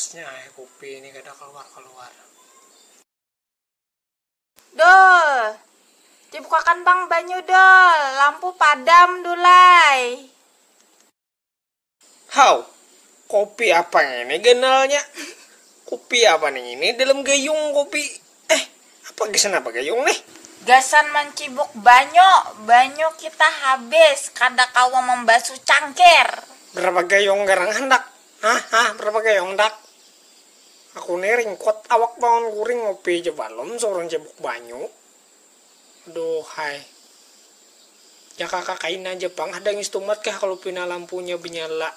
Ausnya ae kupi ini kada kaluar-kaluar. Dul. Dibukakan pang banyu dul, lampu padam dulai. Haw, kopi apa ngini ganalnya? Kupi apa nih ngini dalam gayung kopi? Eh, apa gasan apa gayung nih? Gasan mancibuk banyu, banyu kita habis, kada kawa mambasu cangkir. Berapa gayung garang handak? Hah, hah, berapa gayung handak? Aku nih ringkut awak bangun guring, ngopi ja balum suruh ncibuk banyu. Aduhhai. Jakaka kaina ja pang hadang istumat kah kalu pina lampunya banyala.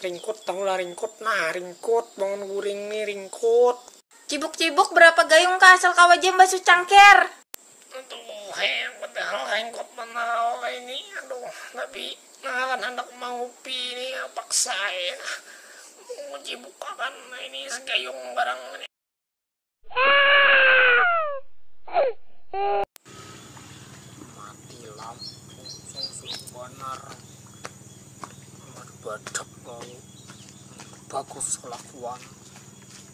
Ringkut tahu lah ringkut nah ringkut bangun guring ni ringkut. Cibuk cibuk berapa gayung kah asal kawa ja mbasuh cangker. Aduhhai padahal ringkut banar awak ai ni aduh tapi ngaran handak mangupi ni paksa ai nah. Mucibuk akan ini sagayung barang ini. mati lampu sungsung banar badak mau bagus kelakuan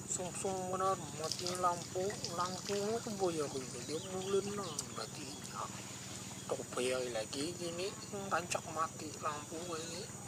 sungsung benar mati lampu lampu itu boya dia bulan nang mati ini aku bayar lagi ini rancak mati lampu ini